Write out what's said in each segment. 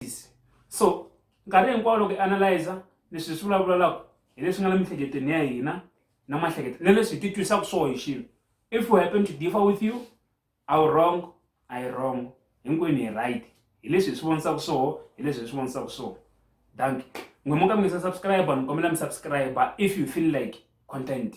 analysis so nkarhi hinkwawo loko i analyza leswi hi swi vulavulalaku hi leswi nga na miehleketweni ya hina na mahlekete na leswi hi ti twisaka swo hi xilo if we happen to differ with you awu wrong i wrong hinkwenu hi right hi leswi hi swi vonisaka swoho hi leswi hi swi vonisaka swoho dank n'we mo ka mi nga se subscribe ni kombela mi subscribe if you feel like content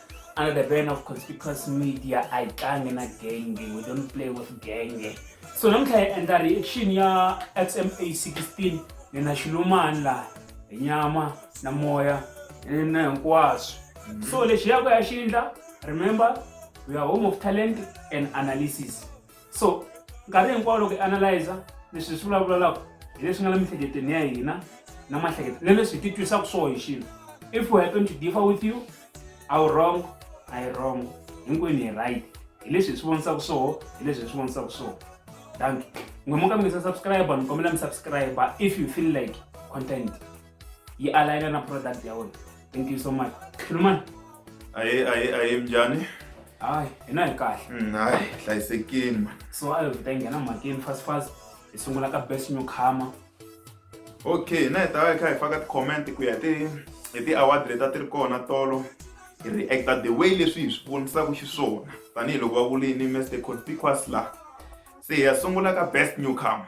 under the ban of conspicuous media i tlangi na genge we don't play with genge so namuntlha hi endla reaction ya xma 16 ni na xilumani laha hi nyama na moya na hinkwaswo mhm. so lexi yako ya xindla remember we are home of talent and analysis so nkarhi hinkwawo loko i analyza leswi hi swi vulavulalaku hi leswi nga la miehleketweni ya hina na mahlekete na leswi hi ti twisaka swo hi xilo if you happen to differ with you a wu wrong a yi wrong hinkwenu hi right hi leswi hi swi vonisaka swoho hi leswi hi swi vonisaka swoho thank you n'we mo ka mi nga se subscribe ni kombela mi subscribe if you feel like content yi alayina na product ya wena thank you so much khulumani aye aye aye mjani hayi hina hi kahle Mm, hayi hlayisekini man so a hi vuta yi nghena mhakeni fast fast hi sungula ka best new comer okay na hi ta va hi kha hi faka ti-comment ku ya ti hi ti-award leti a ti ri kona tolo hi reacta the way leswi hi swi vonisaka xiswona tanihiloko va vulini mr conspicuous la se hi ya sungula ka best newcomer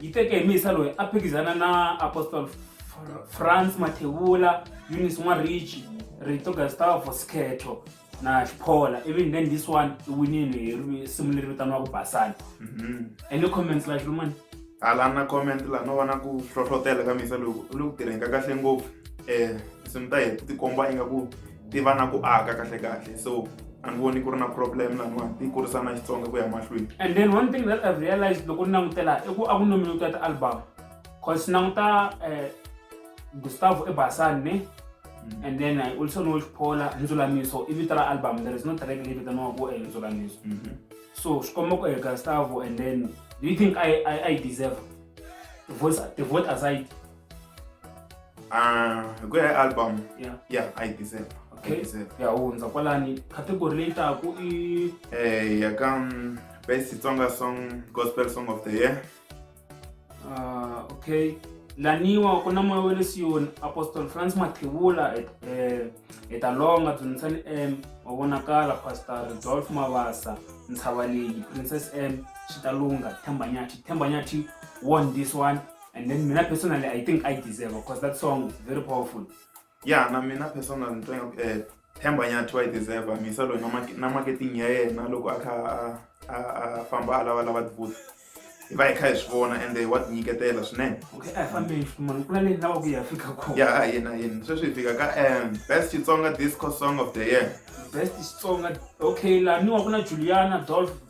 yi teke hi misa loyi a phikizana na apostol france mathevula unis n'warichi rito gustavo sketho na xiphola even then this one i winile hi ri- simu leri vitaniwaka basani Mhm. any comments la xilumani a la na comment laha no vona ku hlohlotela ka misa loku u le ku tirheni ka kahle ngopfu um tinsimu ta hina ti tikomba ingaku ti va na ku aka kahle kahle so a ni voni ku ri na problem laniwani ti kurisa na xitsonga ku ya mahlweni and then one thing that i've realized loko ni langutela i ku a ku nominate ya ti-album cause ni languta um gustavo ebasani ne mm. and then i also know xiphola ndzulamiso i vito ra album there is no track leyi vitaniwa ku eh, ndzulamiso mm-hmm. so swi komba ku eh, gustavo and then do you think i, I, I deserve the vote, the vote aside Ah, hi ku ya hi album Yeah. ya a yi deserve a Okay. yi deserve ya hundza kwalani category leyi taku i eh ya ka mm, best Xitsonga song gospel song of the year ah, okay laniwa ku na moya wa le siyoni apostle france mathevula et- eh, etalonga dzunitsani m wa vonakala pastor rodolf mavasa ntshava leyi princess m xitalunga thembanyathi thembanyathi won this one and then mina personally i think i deserve because that song is very powerful ya na mina personal ni twa ingaku um themba nyathi wa yi deserve misa loyi na mark- na marketing ya yena loko a kha a- a- a famba a lavalava tibuthi hi va hi kha hi swi vona ende wa tinyiketela swinene okay a hi fambeni ximani ku na leyi lava ku yi ya fika kona ya a yena yena sweswi hi fika ka um best xitsonga disco song of the year best xitsonga okay laniwa ku na juliana dolf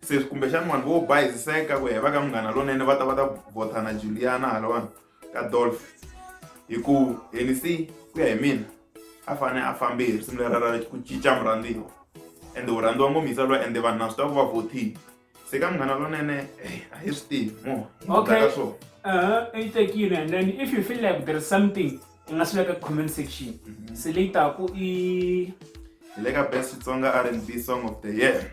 se kumbexana vanhu vo bayiziseka ku heva ka munghana lonene va ta va ta vhotha na juliana halawani ka dolf hi ku henc ku ya hi mina a fane a fambe hi risimu lera ra ku cinca murhandziwa ende u rhandziwa ngomisa loyi ende vanhu na swi tiva ku va vothile se ka munghana lonene eh, a hi swi tivi mo okay. ka swona uh-huh. i tekile and then if you feel like there is something ti nga swi veka comment section mhm. se leyi taku i hi le ka best xitsonga r and b song of the year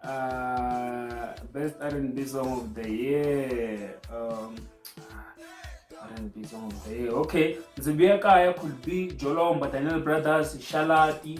uh, best r and b song of the year um, r and b song of the year okay ndzi vuya kaya could be jolomba daniel brothers shalati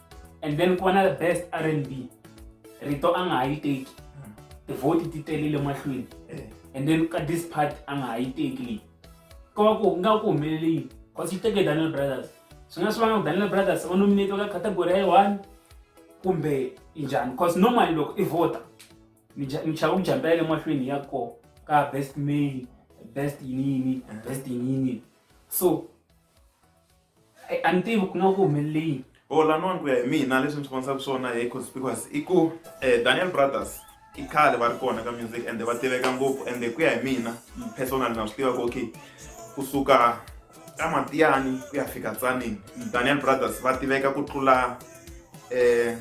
and then ku va na best r and b rito a nga ha yi teki tivhoti ti telile mahlweni eh. and then ka this part a nga ha yi teki leyi ko va ku nga ku humelele yini cause yi teke daniel brothers swi nga swi vanga ku daniel brothers va nominate ka category ya one kumbe njhani cause normally loko i vhota mi chava ku jambela le mahlweni ya ko ka best male best yiniyini best yiniyini so Ai, a ni tivi ku nga ku humelele yini o lanwani ku ya hi mina leswi ni swi vonisaka swona hi conspicuous i ku um daniel brothers i khale va ri kona ka music ende va tiveka ngopfu ende ku ya hi mina personal na swi tiva ku okay kusuka ka matiyani ku ya fika tsanini daniel brothers va tiveka ku tlula eh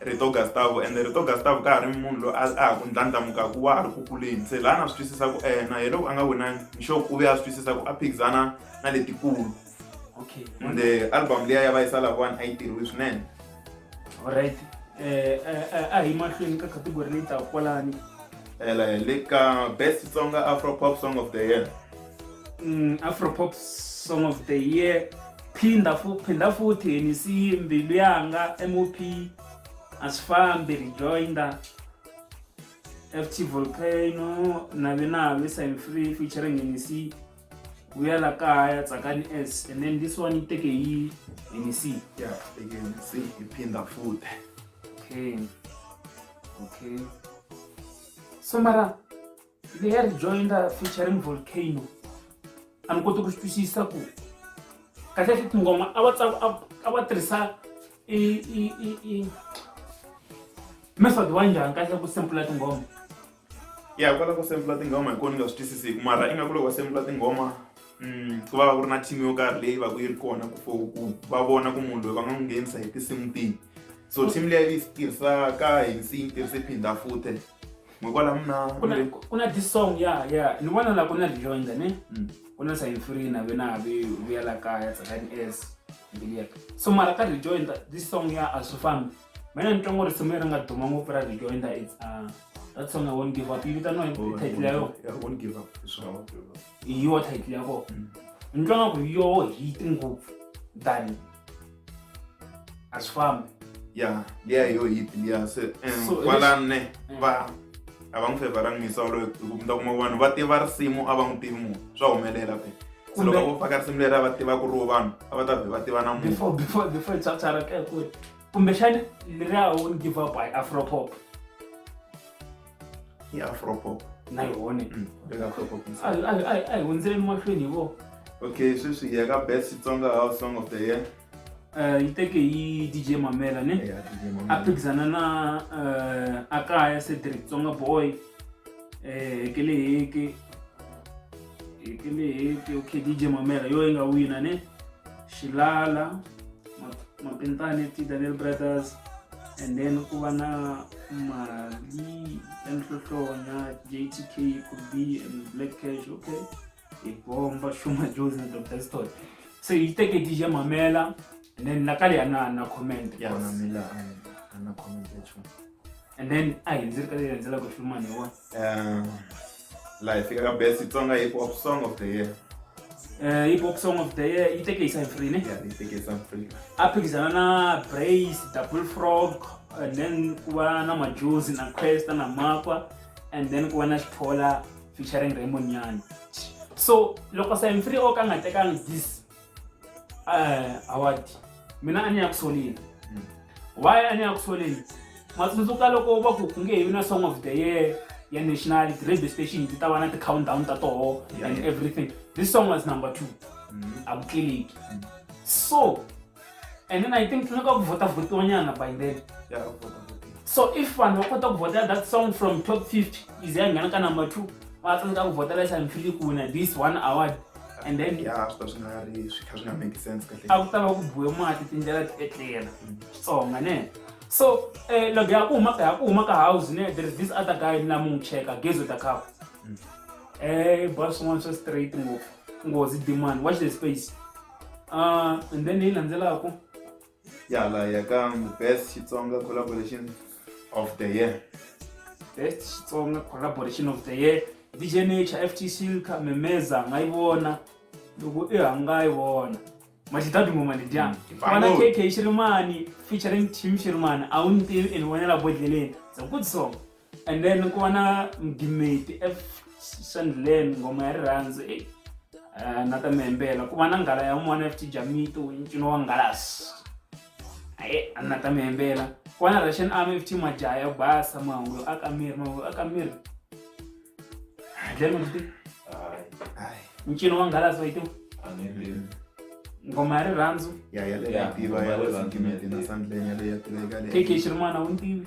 rito Gustavo and rito Gustavo ka ha ri munhu loyi a ha ku ndlandlamukaku wa ha ri ku kuleni se laha na swi twisisa ku ena hi loko a nga winangi nxoku u ve a swi twisisa ku a phikizana na letikulu okay ende album liya ya vayisa lavawani a yi tirhiwi swinene alright eh, eh, eh a hi mahlweni ka category leyi taka kwalani le ka best songa afro pop song of the year mm, afropop song of the year phinda fu phinda futhi yini si mbilu yanga mop asifambi rejoinder ft volcano navi navi sign free featuring nec vuya la kaya tsakani s and then this one yi teke yi nec yeah teke nec yi phinda futhi okay okay so mara The Hair Jointer featuring Volcano a ni koti ku swi twisisa ku kahlekahle tinghoma a va a va tirhisa i i i i method wa njhani kahle ku sempula tinghoma ya kwala ku sempula tinghoma hi kona ni nga swi twisisiki mara ingaku loko va sempula tinghoma mm, ku va va ku ri na team yo karhi leyi va ku yi ri kona ku for ku va vona ku munhu loyi va nga n'wi nghenisa hi tinsimu tihi so team leyi yi tirhisaka hi nsiyi tirhise phinda futhe Ngokwala mna kuna kuna this song ya ya ni vona la kuna Lijonda ne mm. kuna sa infree na vena vi vuya la kaya tsakani as ngiliya so mara ka Lijonda this song ya asufami mina ni twa ngo risimu leri nga duma ngopfu ra Lijonda it's uh, that song I won't give up yi vitaniwa hi title ya yona I won't give up hi yo title ya kona ni twa nga ku yo hit ngopfu than a swi fambi ya liya hi yo hit liya se eh, So, kwalanne Mm. va a va n'wi fevaranga misa waloyo hi ku mi ta kuma vanhu va tiva risimu a va n'wi tivi munhu swa humelela phela se Kumbe- loko vo faka risimu leri a va tiva ku ri wo vanhu a va ta vhe va tiva na munhu before before before it's after rap eh, ku kumbexani leriya won't give up hi afropop i afropop na yone mm, veka afropop a hi hundzele emahlweni hi vo okay sweswi hi ya ka best xitsonga house song of the year eh, yi teke hi dj mamela ne a phikizana na eh, a kaya cedric tsonga boy um eh, hekele heke hekele heke okay dj mamela yo yi nga wina ne xilala mapintani ti daniel brothers and then ku va na mali ya nhlohlona jtk ku b and black cash okay hi bomba shuma josi na dr stot so yi teke dj mamela and then nakale ya na na comment yes. and then a hi ndzi ri ka leyi landzelaka filmani wa um laha hi fika ka best xitsonga hip hop song of the year Eh, hip hop song of the year yi teke hi cyfrine ya hi fike south africa a phikizana na brace double frog and then ku va na majuzi na questa na makwa and then ku va na xithola featuring raymond nyani so loko cyfrine o ka nga tekanga this eh award mina a ni ya ku soleni hmm. why a ni ya ku soleni ma tsundzuka loko va ku ku nge hevi na song of the year ya national radio station ti ta va na ti-countdown ta toho and everything this song was number two hmm. a ku tleleki hmm. so and then i think tsaneka ku vhota vhotiwanyana by then so if vanhu va kota ku vhota that song from top 50 ize ya nghena ka number two va tsaneka ku vhota lesa mfilikuna this one award and then ya swi ta swi nga ri swi kha swi nga make sense kahle a ku ta va ku buwe mati tindlela ti etlela xitsonga ne so eh loko ya ku huma ka ya ku huma ka house ne there is this other guy na mu cheka gezo ta khapa eh boss wants us straight ngopfu ngozi demand watch the space uh and then leyi landzelaka ya la ya ka the best xitsonga collaboration of the year best xitsonga collaboration of the year dj nature ft silka memeza nga yi vona loko i hanga yi vona matidadimo malidyana Mm. fana kk xirimani featuring team xirimani a wu ni tivi and vonela bodleleni zakutisonga and then ku va na mgimeti esandleni ngoma ya rirhandzu e eh, na ta mihembela ku va na nghala ya un'wana ft jamito ncino wa ngalasi aye a na ta mihembela ku va na russian army ft majaha ya basa mahungu yo aka miri mahungu yo aka miri dlemakuti ncino wa ngalasi wa yitiwa ngoma ya rirhandzu keke xirimana wu ntivi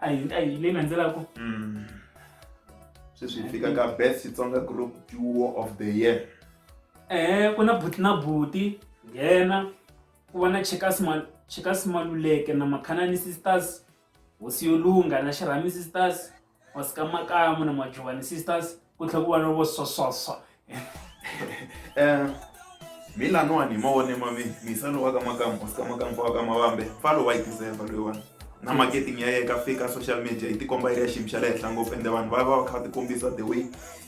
a hi a hi leyi landzelaka Mm. sweswi hi fika ka best xitsonga group duo of the year eh ku na buti na buti nghena ku va na chekas Ma- chekas maluleke na makhanani sisters hosi yo lungha na xirhami sisters wasikamakamo na majovani sisters ku tlhe ku va no vo swaswaswa um mina nwani hi mavone ma mi misa lowa ka makampa sika makampa wa ka mavambe fa lowa yi tiseva loyiwani na marketing ya ye ka fika social media yi tikomba yi ri ya xiyimo xa le henhla ngopfu ende vanhu va va va kha va tikombisa the way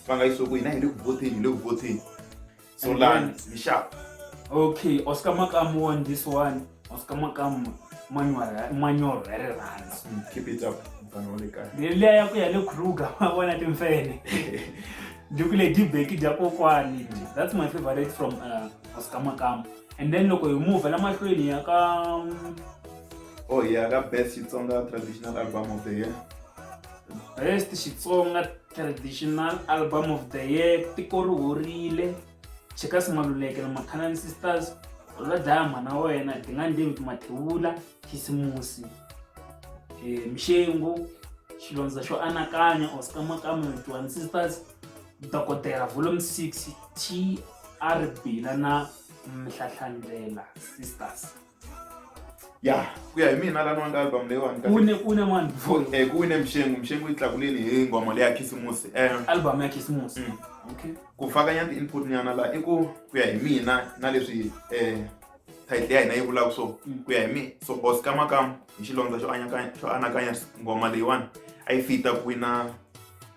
va nga yi swi ku hina hi le ku votheni hi le ku votheni So land, be sharp. Okay, Oscar Makam won this one. Oscar Makam manual very runs. Mm, keep it up. Leya ya ku ya le Kruger, ma vona timfene. Duku le dibeki dya kokwani. That's my favorite from uh, Oscar Makam. And then loko hi move la mahlweni ya ka Oh yeah, ka best Xitsonga traditional album of the year. Best Xitsonga traditional album of the year tiko ri horile checkers maluleke na macanani sisters va dlaya mhana wa wena dingani david mathewula khisimusi eh, mixengu xilondza xo anakanya osikamakama johan sisters dokodela volume 6 trb la na mhlahlandlela sisters ya ku ya hi mina lani wanga album leyiwani ka- Une une mani Ku- before eh, ku wine mxengu mxengu yi tlakuleni hi nghoma leya khisimusi um album ya Khisimusi. Mm. Okay. ku fakanya ti-input nyana laha i ku ku ya hi mina na leswi um title ya hina yi vulaka so Mm. ku ya hi mina so bos kamakam hi xilondza xo anakanya xo anakanya nghoma leyiwani a yi fita ku wina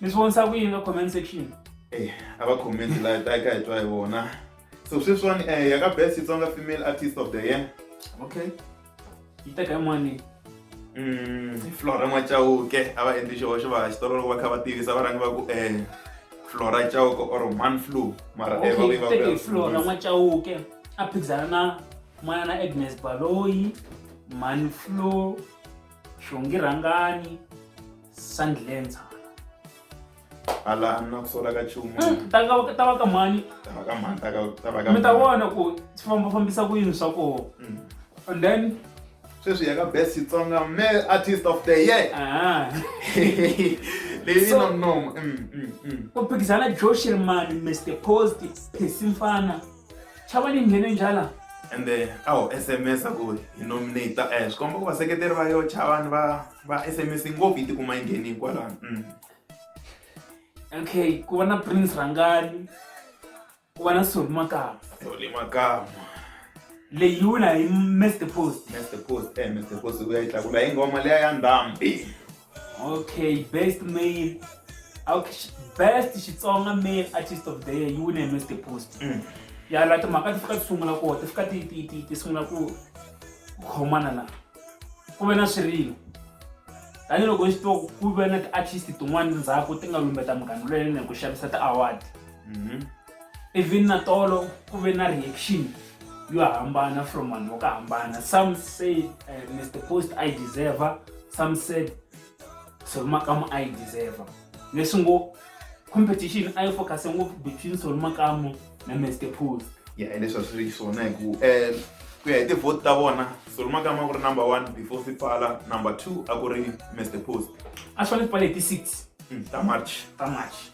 mi swi vonisa ku yini ka comment section eh, a va comment laha ta ka hi twa hi vona so sweswiwani um ya ka best xitsonga female artist of the year okay yi teka yin'wani mm, flora n'wacawuke a va endli xihoxo va xitolo loko va kha va tivisa va rhangi va ku um flora cawuke or man flu mara eh, okay, flora n'wacawuke a phikizana na n'wana na agnes baloyi man flu xongi rhangani sandlenza ala na ku sola ka chumu mm, ta va ta va ka mani ta va ka mani ta ka ta va ka mi ta vona ku swi famba fambisa ku yini swa koho mm. and then sweswi ya ka best xitsonga male artist of the year ah. leyi na mnoma mm, ku phikizana joshirmani mr post phesi mfana chava ni nghene njala ende a wu sms ku hi nominate eh, swi komba ku vaseketeri va yo chavani va va sms ngopfu yi tikuma yi ngheni hikwalano mm. okay ku va na prince rhangani ku va na soli makama soli makama leyi yi wula hi mester post mester post eh mester post u ya yi tlakula hi ngoma leya ya ndhambi Okay, best male. Okay, best Xitsonga male artist of the year. You win a Mr. Post. Mm. Ya la timhaka ti fika ti sungula ko, ti fika ti ti ti ti sungula ku khomana la. Ku ve na swirilo. Tanihiloko xi to ku ve na ti-artist tin'wana ndzhaku ti nga lumbeta munghana lweyi ku xavisa ti-award. Mm-hmm. even na tolo ku ve na reaction yo hambana from vanhu vo ka hambana some say uh, eh, mr post i deserve some said solomakamu i deserve leswi ngo competition a yi focuse ngopfu between solomakamu na mr post ya yeah, leswi a swi ri swona hi ku um eh, ku ya hi tivote ta vona solomakamu a ku ri number one before swi pfala number two a ku ri mr post a swi fanele swi pfale hi ti-six hmm, ta march ta march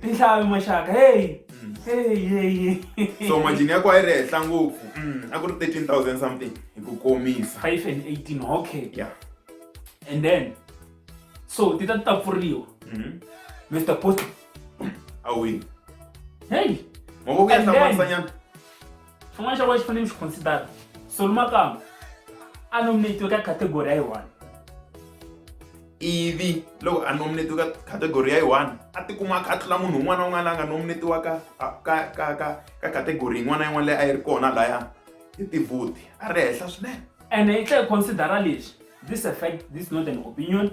tinhlayo maxaka heyi mm. heyi so majini ya ku a yi ri henhla ngopfu mm, a ku ri 13000 something hi ku komisa 5 and 18 okay yeah and then so ti ta ti ta pfuriwa mr post awi heyi mavoko ya hlamarisa nyana xin'wana xa kona xi fanele mi xi considera solumakamba a nominatiwe ka category ya yi one ivi loko a nominatiwe ka category ya yi one a tikuma a kha a tlula munhu un'wana na un'wana la nga nominatiwa ka ka ka ka ka category yin'wana na yin'wana leyi a yi ri kona laya hi tivhuti a ri henhla swinene and i tlhe considera lexi this effect this not an opinion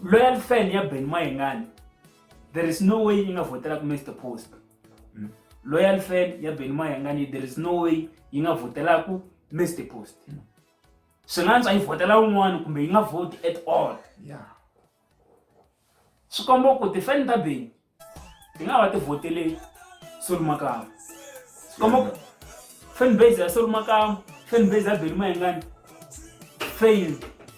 loyal fan ya ben mayengani there is no way yi nga vhotela ku mr post hmm. loyal fan ya beni mayangani there is no way yi nga vhotela ku mr post hmm. swi nga ntswa yi vhotela un'wana kumbe yi nga vhoti at all swi komba ku tifan ta beni ti nga va ti vhotele solumakama swi komba ku fan base ya solumakama fan base ya beni mayangani fail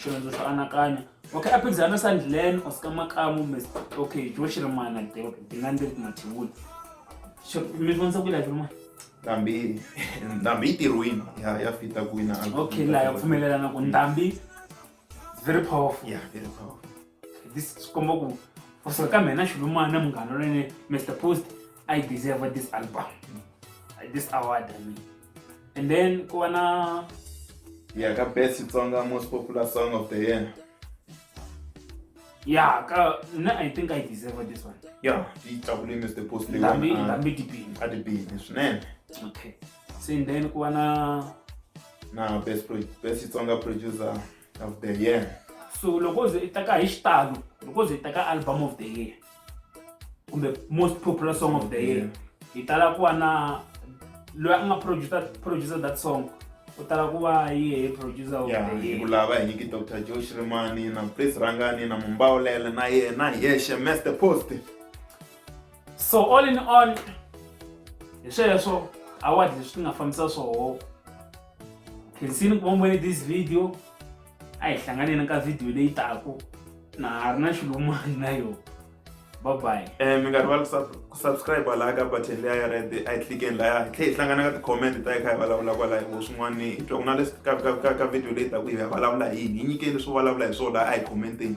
xivindzi xo anakanya okay a phikizana na sandlen or sika makamu mis okay xo xi ri mana ti nga ndzi ri ku mathivula mi vonisa ku lavi rin'wana ndhambi ndhambi yi tirhwini ya ya fita ku wina okay laha ya pfumelelana ku ndhambi very powerful yeah very powerful this swi komba ku kusuka ka mina xilumana munghana lwene mr post i deserve this album this award i mean and then ku va na ya ka best xitsonga most popular song of the year ya ka na i think i deserve this one ya yi tlakule mr post leyilambi ah, dipini a dipini swinene okay so and then ku va na na best best xitsonga producer of the year so loko u ze i teka hi xitalo loko u ze i teka album of the year kumbe most popular song of the year hi tala ku va na loyi a nga producer producer that song u tala ku va yehe producer of the year ku lava hi nyiki dr joe shrimani na prince rangani na mumbawulela na yena hi yexe master post so all in all hi sweswo award leswi ti nga fambisa swoho khensini ku vombone this video a hi hlanganeni ka video leyi taku na ha ri na xilumani na yona babayi um eh, mi nga rivali ku subscribe laha ka button leya ya red a yi tlikeni laya hi tlhe hi hlangana ka ti-comment ta yi kha hi vulavula kwalahi vo swin'wana hi twa ku na leswi ka video leyi taku hi ya vulavula hi hi nyikeni leswi vulavula hi swona laha a hi commenteni